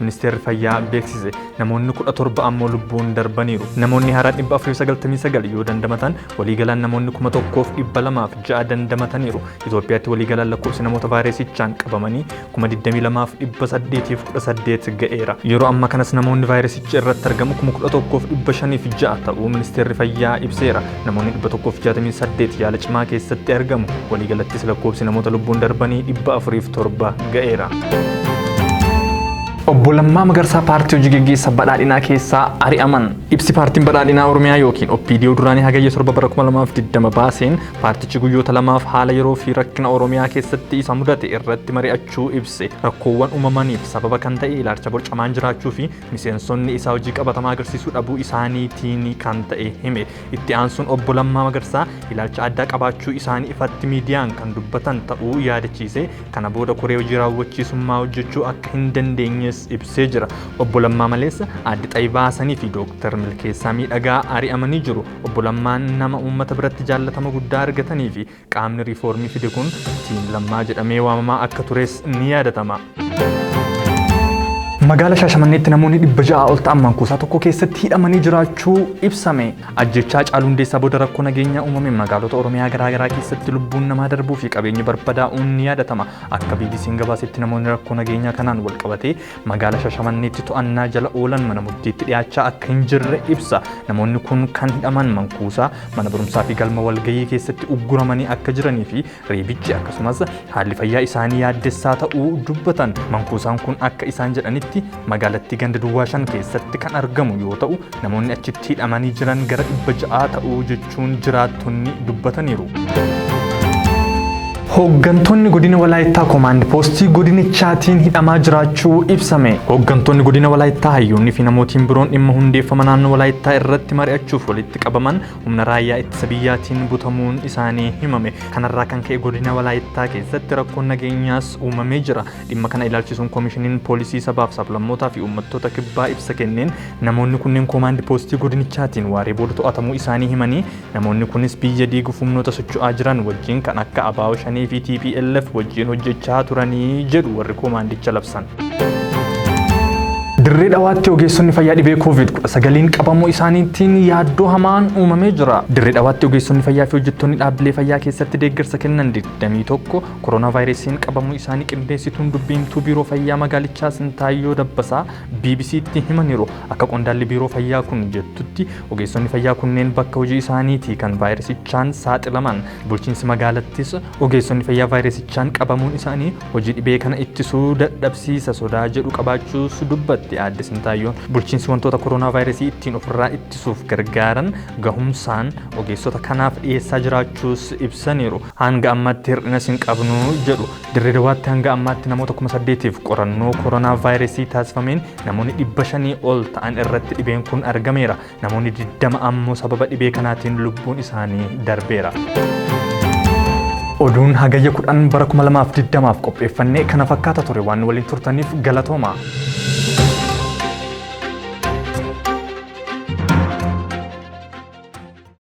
Ministeerri Fayyaa beeksise namoonni 17 ammoo lubbuun darbaniiru. Namoonni haaraa 499 yoo dandamatan waliigalaan namoonni 1206 dandamataniiru. Itoophiyaatti waliigalaan lakkoofsi namoota vaayirasichaan qabamanii 22,818 ga'eera. Yeroo amma kanas namoonni vaayirasichi irratti argamu 11,506 ta'uu Ministeerri Fayyaa ibseera. Namoonni 168 yaala cimaa keessatti argamu. Waliigalattis lakkoofsi namoota lubbuun darbanii 407 ga'eera. Obbo Lammaa Magarsaa paartii hojii geggeessa badhaadhinaa keessaa ari'aman. Ibsi paartiin badhaadhinaa Oromiyaa yookiin OPDO duraanii hagayya 7 bara 2020 baaseen paartichi guyyoota lamaaf haala yeroo fi rakkina Oromiyaa keessatti isa mudate irratti mari'achuu ibse. Rakkoowwan uumamaniif sababa kan ta'e ilaalcha borcamaan jiraachuu fi miseensonni isaa hojii qabatamaa agarsiisuu dhabuu isaaniitiin kan ta'e hime. Itti aansuun obbo Lammaa Magarsaa ilaalcha addaa qabaachuu isaanii ifatti miidiyaan kan dubbatan ta'uu yaadachiise kana booda koree hojii raawwachiisummaa hojjechuu akka hin dandeenyes ibsee jira. Obbo Lammaa maleessa Aadde Xayibaa Hasanii fi Dooktar Milkeessaa Miidhagaa ari'amanii jiru. Obbo Lammaan nama uummata biratti jaallatama guddaa argatanii fi Qaamni riifoormii fide kun Tiim Lammaa jedhamee waamamaa akka tures ni yaadatama. Magaala Shaashamanneetti namoonni dhibba ja'aa ol ta'an mankuusaa tokko keessatti hidhamanii jiraachuu ibsame. Ajjechaa Haacaaluu Hundeessaa booda rakkoo nageenyaa uumame magaalota Oromiyaa garaagaraa keessatti lubbuun namaa darbuu fi qabeenyi barbadaa'uun ni yaadatama. Akka BBC'n gabaasetti namoonni rakkoo nageenyaa kanaan wal qabatee Magaala Shashamanneetti to'annaa jala oolan mana murtiitti dhiyaachaa akka hin jirre ibsa. Namoonni kun kan hidhaman mankuusaa, mana barumsaa fi galma walgahii keessatti ugguramanii akka jiranii fi reebichi akkasumas haalli fayyaa isaanii yaaddessaa ta'uu dubbatan. Mankuusaan kun akka isaan jedhanitti magaalattii ganda duwwaa shan keessatti kan argamu yoo ta'u Namoonni achitti hidhamanii jiran gara dhibba ja'aa ta'u jechuun jiraattonni dubbataniiru. Hooggantoonni godina Walaayittaa Koomaand Poostii godinichaatiin hidhamaa jiraachuu ibsame. Hooggantoonni godina Walaayittaa hayyoonni fi namootiin biroon dhimma hundeeffama naannoo Walaayittaa irratti mari'achuuf walitti qabaman humna raayyaa ittisa biyyaatiin butamuun isaanii himame. Kanarraa kan ka'e godina Walaayittaa keessatti rakkoon nageenyaas uumamee jira. Dhimma kana ilaalchisuun koomishiniin poolisii sabaaf sablammootaa fi uummattoota kibbaa ibsa kenneen Namoonni kunneen koomaandi poostii godinichaatiin waaree booda to'atamuu isaanii himanii, namoonni kunis biyya diiguuf humnoota socho'aa jiran wajjin kan akka abo Shanee fi tplf wajjin hojjechaa turanii jedhu warri koomaandicha labsan. Dirree Dhawaatti ogeessonni fayyaa dhibee COVID-19n qabamuu isaaniitiin yaaddoo hamaan uumamee jira. Dirree Dhawaatti ogeessonni fayyaa fi hojjettoonni dhaabbilee fayyaa keessatti deeggarsa kennan 21 koronaavaayirasiin qabamuu isaanii qindeessituun dubbiimtuu biiroo fayyaa magaalichaa Sintaayyoo Dabbasaa BBC'tti himaniiru. Akka qondaalli biiroo fayyaa kun jettutti, ogeessonni fayyaa kunneen bakka hojii isaaniitii kan vaayirasichaan saaxilaman. Bulchiinsi magaalattis ogeessonni fayyaa vaayirasichaan qabamuun isaanii hojii dhibee kana ittisuu dadhabsiisa sodaa jedhu qabaachuus dubbatti Aadde Sintaayyoon. Bulchiinsi wantoota koronaavaayirasii ittiin ofirraa ittisuuf gargaaran gahumsaan ogeessota kanaaf dhiyeessaa jiraachuus ibsaniiru. Hanga ammatti hir'inas hin qabnu jedhu. Dirree Dawaatti hanga ammaatti namoota kuma saddeetiif qorannoo koronaa vaayirasii taasifameen namoonni dhibba shanii ol ta'an irratti dhibeen kun argameera. Namoonni 20 ammoo sababa dhibee kanaatiin lubbuun isaanii darbeera. Oduun hagayya 10 bara 2020f qopheeffannee kana fakkaata ture waan nu waliin turtaniif galatooma.